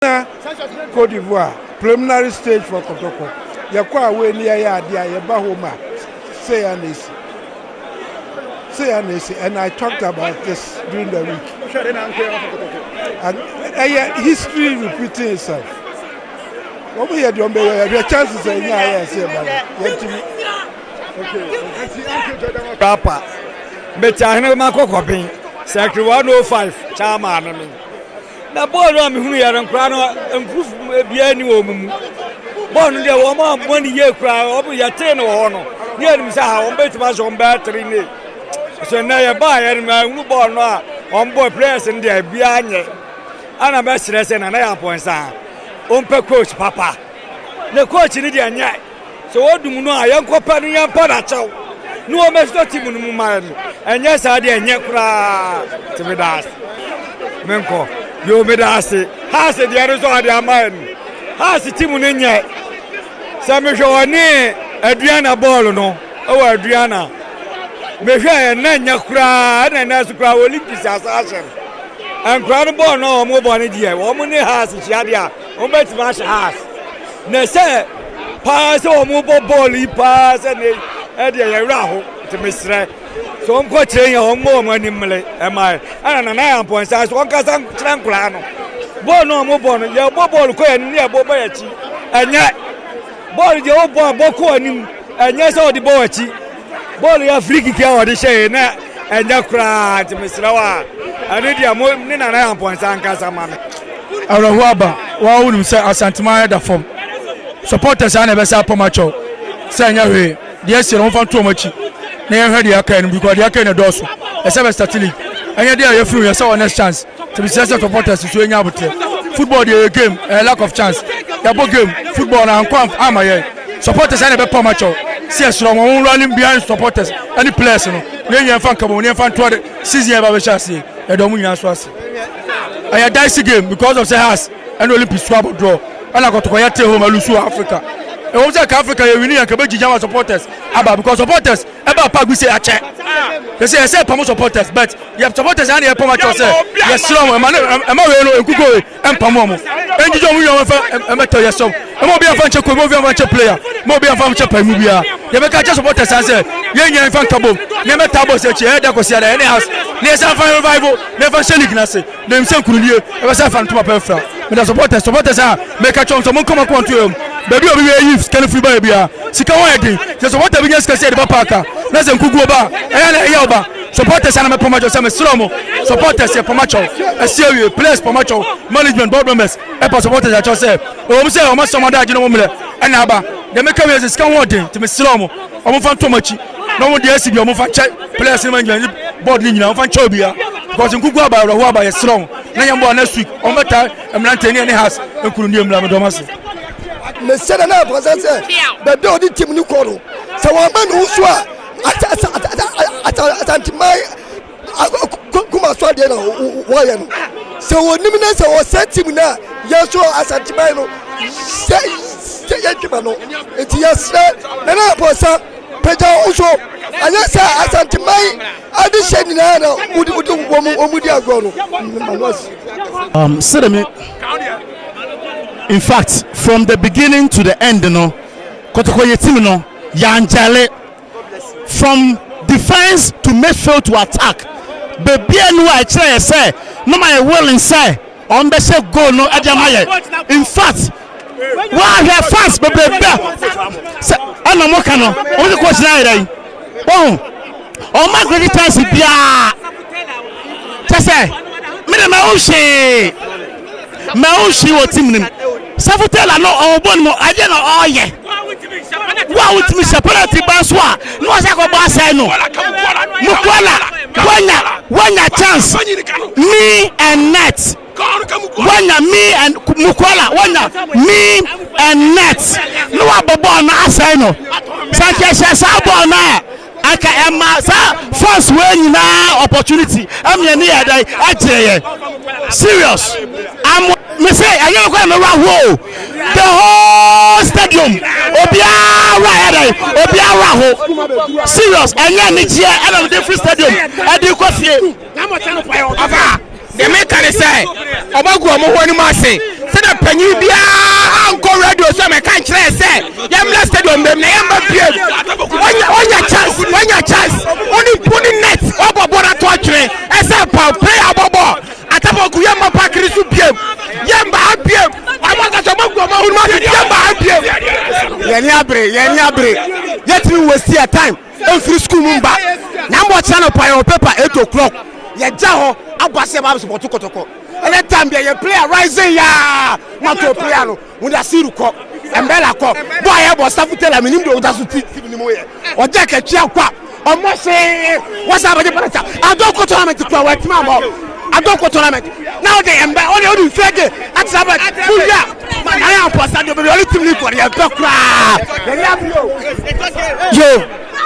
Gyina Côte d'Ivoire, preliminary stage for Kotoko. Yɛkɔ a wei ne yɛyɛ adeɛ a yɛba home a sei a na esi. Sei a na esi and I talked about this during the week. Ɛyɛ history repeating itself. Wɔn yɛ deɛ wɔn bɛyɛ yɛhwɛ chances a ɛnya ayɛ ɛsɛ ɛba no yɛntumi. Rapper. Mete ahene ma kɔkɔben. Sɛ kiri 105 chairman no me. Na bɔɔl no a mehunu yɛ no nkoraa no mproof biara ni wɔn mu bɔɔl no deɛ wɔn a wɔn ni yie koraa wɔn yɛtee no wɔ hɔ no ne yɛ nim sɛ ha wɔn bɛtumi ahyɛ wɔn bɛyɛ three ne so nnɛ yɛ baa yɛ no ma ehunu bɔɔl no a wɔn bɔ players no deɛ biara nyɛ ana bɛsrɛ sɛ nana yɛ abɔnsa wɔn pɛ coach papa ne coach no deɛ nyɛ. Sɛ wɔdum no a, yɛnkɔpɛ no yɛmpa no akyɛw na wɔmmɛsi no tim no mu mma yɛn. Ɛnyɛ saa deɛ ɛnyɛ koraa. Nti meda ase. Menkɔ. Yoo, meda ase. Haase deɛ no nso ade ama yɛn. Haase tim no nyɛ. Sɛ mehwɛ ɔne Adriana bɔɔlo no wɔ Adriana. Mehwɛ ɛnna nyɛ koraa ɛna ɛnna nso koraa Olympics asan ahyɛ no. Nkwadaa no bɔɔlo no a wɔbɔ no deɛ wɔn ne Haase hyia deɛ a. Wɔbɛtumi ahyɛ ha ase. Na sɛ paa sɛ wɔbɔ bɔɔl yi paa sɛ ne ɛdeɛ yɛ werɛ aho nti mesrɛ sɛ wɔnkɔ kyerɛ yɛn wɔn mmɔ wɔn anim mmele ɛma yɛ ɛna nana yɛ mpɔnsa so wɔnkasa kyerɛ nkoraa no bɔɔl no wɔn bɔ no yɛbɔ bɔɔl kɔ yɛn anim ne yɛbɔ bɔ yɛn akyi ɛnyɛ bɔɔl deɛ wɔbɔ a bɔ kɔ anim ɛnyɛ sɛ wɔde bɔ wɔn akyi Bɔɔl yi a free kick a wɔde hyɛɛ na ɛnyɛ koraa nti mesrɛ wo a ɛne deɛ mo ne nana yampɔnsa nkasa ma me. Awerɛhoɔ aba wo a wonim sɛ Asanteman ayɛ da fam supporters a na ɛbɛsa apam akyɛw sɛ ɛnyɛ hwee deɛ ɛsie no momfa nto wɔn akyi na yɛnhwɛ deɛ aka no because deɛ aka yi na ɛdɔɔso ɛsɛ bɛ start league ɛnyɛ deɛ a yɛfiri ho yɛsɛ wɔ next chance. tumi kyerɛ sɛ supporters nso anya abotrɛ football deɛ ɛyɛ game ɛyɛ lack of chance yɛbɔ game football na ankɔ ama yɛn supporters ɛna ɛbɛpa ɔma kyɛw sɛ yɛsrɛ wɔn wɔn rally behind supporters ɛne players no na yɛn fa nka bɔ wɔn yɛn fa ntoa de season yɛn ba bɛhyɛ aseɛ yɛde wɔn nyinaa so ase ɛyɛ dicey game because of sɛ has ɛna olympics so abɔ draw ɛna kɔtɔkɔ yɛ te home alusu wɔ africa ɛwɔ sɛ ka africa yɛ wini yɛn ka bɛgyigya ma supporters aba because supporters ɛba pa gu sɛ akyɛ te sɛ ɛsɛ pam supporters but yɛ supporters ana yɛpam akyɛ sɛ yɛsrɛ wɔn ɛma ɛma wei no nkuko wei ɛmpam wɔn ɛngyigye wɔn wiɔn ɛfɛ ɛmɛtɔ yɛsrɛ wɔn ɛma obi afa nkyɛ kobi obi afa nkyɛ player ma obi afa nkyɛ pa mu biara yɛbɛka akyɛ supporters an sɛ yɛnyɛ nfa nka bom na ɛmɛta abɔ sɛ akyi ɛyɛ da kɔsi ada ɛne house na yɛsan fa revival na ɛfa hyɛ league no ase Menim sɛ nkunimdie ɛbɛ sɛ afa ntoma pa afira. Meda supporters supporters a meka kyerɛ wɔn sɛ monkɔ mo akoma nto yam. Baabi a obi wia yift sika no firi baeɛ biara sika ho ayɛ den. Sɛ supporter bi nya sika sɛ yɛde ba park a na sɛ nkuguo ba a ɛyɛ a na ɛyaw ba. Supporters a na mɛpam akyɛw sɛ mesrɛ mo supporters yɛpam akyɛw ɛsi awie players pam akyɛw management board members ɛpa supporters akyɛw sɛ ɛwɔ mu sɛ wɔn asɛm adaagye no ho mmerɛ ɛna aba. Deɛ meka wie sɛ sika ho ɔden nti mesrɛ mo. Wɔn fa ntɔm akyi na wɔn de asi bi a wɔn fa nkyɛ players ne ma ngyina ne board ne nyinaa wɔn fa nkyɛ obia because nkuku aba awuraho aba yɛ serɛ wɔn na yɛn bɔ next week wɔn bɛ ta mmerante ne ɛne has nkunu ne mmira mi dɔm ase. Mesɛ dɛ na ɛbɔnsɛ sɛ bɛbɛ ɔde tim ne kɔ no sɛ wɔn bɛ ne ho so a asanteman kuma so adeɛ na wɔyɛ no sɛ wɔnim no sɛ wɔsɛ tim no a yɛso asanteman no sɛ sɛ yɛdwuma no nti yɛserɛ nana apɔsa pagya wo so ɛnyɛ sɛ asanteman ade hyɛ nyinaa na wode wode wɔn di agorɔ no manoasi um, sɛdɛ me in fact from the beginning to the end no kɔtɔkɔ yɛ tim no yɛangyale From defence to Mayfield to attack, bebie no a ɛkyerɛ yɛ sɛ na ɔma yɛ willing sɛ wɔn bɛhyɛ goal no de ama yɛ. In fact, wɔahwɛ fans bebrebe a sɛ ɛna wɔn ka no, wɔn de coach no ayɛ dɛ yi. Wɔn wɔn ma great chance biara kyɛ sɛ mede ma wo hwee. ma ɔnhwii wɔ tim no mu. Sɔfo Taylor no ɔwɔbɔ no mu ɛdeɛ na ɔyɛ. Wo a wotumi hyɛ penalty ba nso a na wɔsɛ akɔbɔ asɛe no. Mukwala wanya wanya chance me and net wanya me and Mukwala wanya me and net na wabɔ bɔɔl no asɛe no. Sɛ nka ɛhyɛ saa bɔɔl no a Anka ɛma saa fans wei nyinaa opportunity ɛma yɛn ani yɛ dɛn? Ɛgyee yɛn. Serious. Am me se ɛnyɛ me kɔyɛ me wura ho o. The whole stadium obiara wura yɛ dɛn? Obiara wura ho. Serious ɛnyɛ anigyeɛ ɛna mede firi stadium ɛde kɔ fie. Ɔfa, deɛ meka ne sɛ ɔbɛgu ɔmo ho anim ase sɛdeɛ panyin biara nkɔ radio so mɛka nkyerɛ sɛ yɛmmra stadium bɛm na yɛmma biem onya onya chance onya chance oni oni net ɔbɔ bɔ na to atwene ɛsɛ pa play abɔ bɔ atabaku yɛmma pakiri so biem yɛmma ha biem ɔmo akasa ɔmo agu ɔmo ho anim ase yɛmma ha biem yɛni abere yɛni abere yɛtumi wɔ si a time Ɛmfiri sukuu mu mba na ama ɔkyena anɔpa yɛwɔ paper eight o'clock yɛgya hɔ abɔ ase ɛba abɛsupɔto kɔtɔkɔ ɛnɛ time deɛ yɛ player rising yaa na to player no wɔde asiru kɔ ɛmbɛla kɔ bɔ a yɛbɔ staff tailor menim deɛ ɔgya so ti tim ne mu yɛ ɔgya kɛtwea kɔ a ɔmmɔ see wɔsa abɛgye parata adɔ kɔ tournament kura wɔatumi ammɔ adoko tournament na ɔde ɛmbɛ ɔde ɔde nsuo de akyerɛ abɛ wuyia ma yɛayɛ apɔsa de bɛbi ɔde tim ne kɔ yɛ pɛ koraa yɛyɛ abio yo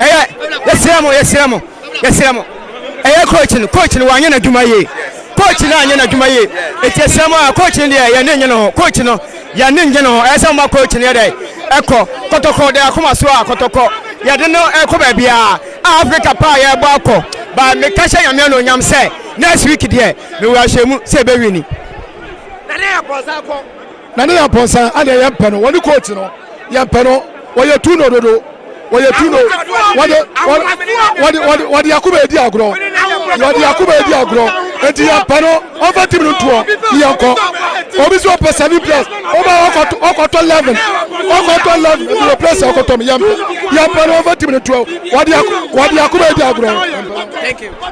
ɛyɛ yɛsrɛ mo yɛsrɛ mo yɛsrɛ mo ɛyɛ coach no coach no wanyɛ n'adwuma yie coach no anyɛ n'adwuma yie eti yɛsrɛ mo a coach no deɛ yɛn ne nye no ho coach no yɛn ne nye no ho ɛyɛ sɛ ɔma coach no yɛ dɛ ɛkɔ kɔtɔkɔ de akoma so a kɔtɔkɔ yɛde no ɛkɔ baabiara A Africa paa yɛbɔ akɔ but me ka hyɛ nyame anuonyam sɛ next week deɛ me wɔ ahyɛmu sɛ yɛbɛ wini. Na ne yɛ pɔnsa akɔ. Na ne yɛ pɔnsa adeɛ yɛ mpɛ no wɔne coach no yɛ mpɛ no wɔyɛ tu no dodo wɔyɛ tu no wɔde wɔde wɔde wɔde wɔde akoma edi agorɔ wɔde akoma edi agorɔ eti yɛ mpɛ no. ɔmfa team no ntoɔ yɛnkɔ obi sɛ ɔpɛ seven plus ɔba ɔkɔtɔ eleven ɔkɔtɔ eleven ebi wɔ plus ɔkɔtɔ mu yɛmpɛ yɛmpɛ no ɔmfa team no ntoɔ wɔde akoma adi agorɔ.